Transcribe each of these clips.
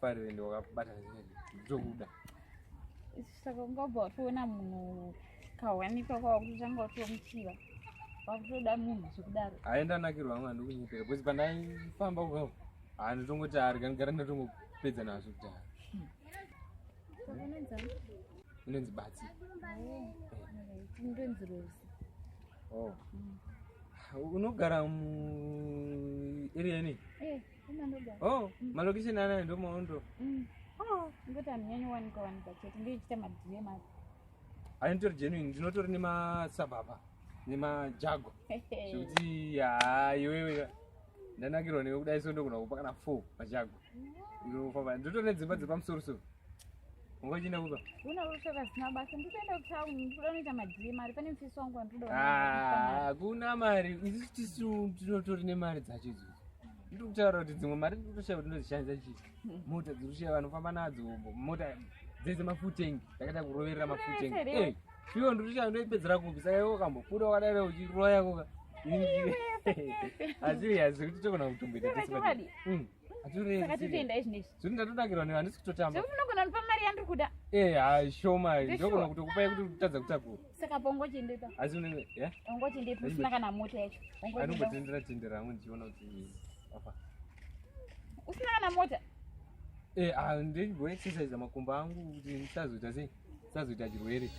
farire ndi wakabata ndokuda saka ungabva watoona munhu kawanikwa kwawakutotanga watomuchiva wakutoda munhu zvekudaro aenda anakirwa amwe handikunyepera bcause pandaifamba uko handitongoti ari kanigara ndatongopedza nazvo kudhara unonzi batsi ndonzi rosi oh. hmm. unogara mueria inei eh. oh mm. malokisheni anayo ndo maondo mm. oh. ngoti anonyanya kuwanika wanika chete ndoichita madm acho ainitori genuine ndinotori nemasababa nemajago zvekuti haa iwewe ndanakirwa newe kudai so ndogona kupa kana four majago ndinofamba ndotone dzimba dzepamusorosoro Ngoji na kuba. Una rusha ka sina basa ndipenda ku town ndikuda noita madhiri mari pane mfisi wangu anduda. Ah, kuna mari isu tisu tinotori ne mari dzacho idzo. Ndiri kutaura kuti dzimwe mari ndiri kutoshaya kuti ndozishandisa chi. Hmm. Mota dziri kushaya vanofamba nadzo mota dzese mafutengi takada kuroverera mafutengi. Eh, fiwo ndiri kushaya ndoipedzera kupi saka iwe ukambobuda wakadaro uchiroya koka. Asi hazikuti tokona kutomboita tese. saka totoendai zvinezvi zviri ndatodakirwa nevanhu ndisi kutotamba zvekuti munogona ndipa mari yandiri kuda ee eh, ha shoma ndogona kutokupai kuti kutadza kutakura saka paungochiendepa asi unenge ya ungochiendepa usina kana mota yacho anongotendera tendera hangu ndichiona kuti afa usina kana mota ee eh, ha ndengoexercise makumba angu kuti ndisazoita sei sazoita chirwere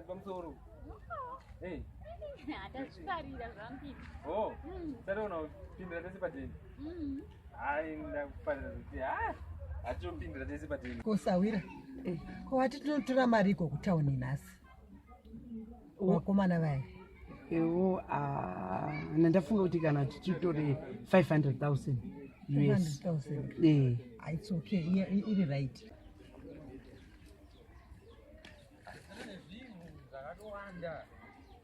pamusoro hatazvifarira zvambiri o sare unopindira tese padeni Hai ndakufanira kuti ah atopindira tese patini. Kusawira. Eh. Ko wati tinotora mari iko kutown nhasi. Wakomana vaya. Ewo ah ndafunga kuti kana tichitore 500,000 US. 500,000. Eh. Ah, it's okay. Yeah, iri right.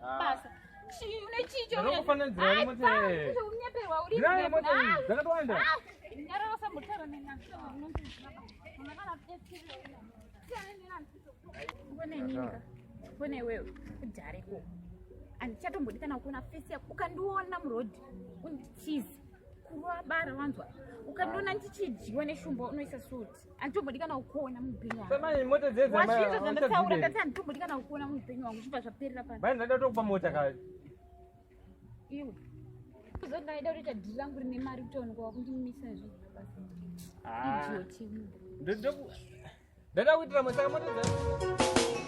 basa fone wewe udareko handichatombodi kana kuona fesi yako ukandiona murodhi unditize kurwa bara wanzwa ukandiona ndichidyiwa neshumba unoisa suti anditombodikana kukuona muupenyu wangowazvinzva zvandataura ndati anditombodikana kukuona muupenyu wangu zvibva zvaperera pano bai ndaida kutokupa mota ka iwe zodaida kutoita dhiri rangu rine mari kuti onekwa wakundimisa zviidiotndoda kuitira mosaka mota dza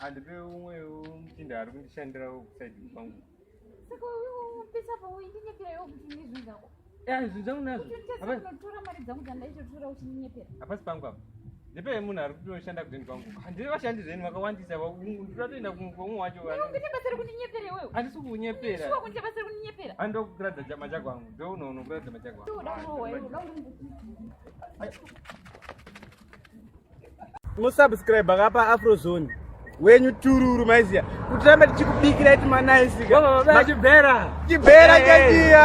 handipe umwewo muchinda ari kundishandirawo kusaidi kwangu saka upesa pauindinyeperawo kuti nezvinhu zvako zvinhu zvangu nazvonotora mari dzangu dzandaichotora uchindinyepera hapasi pangu apa ndipe munhu ari kutoshanda kudeni kwangu handiri vashandi zveni vakawandisa ndatoenda kumwe wacho handisi kunyepera andokuratidza chama chako angu ndounoona kuratidza machako angu musubscribe akapa afrozone wenyu tururu maiziya kuti rambe tichikubikira iti manaisikaachibhera chibhera chaiya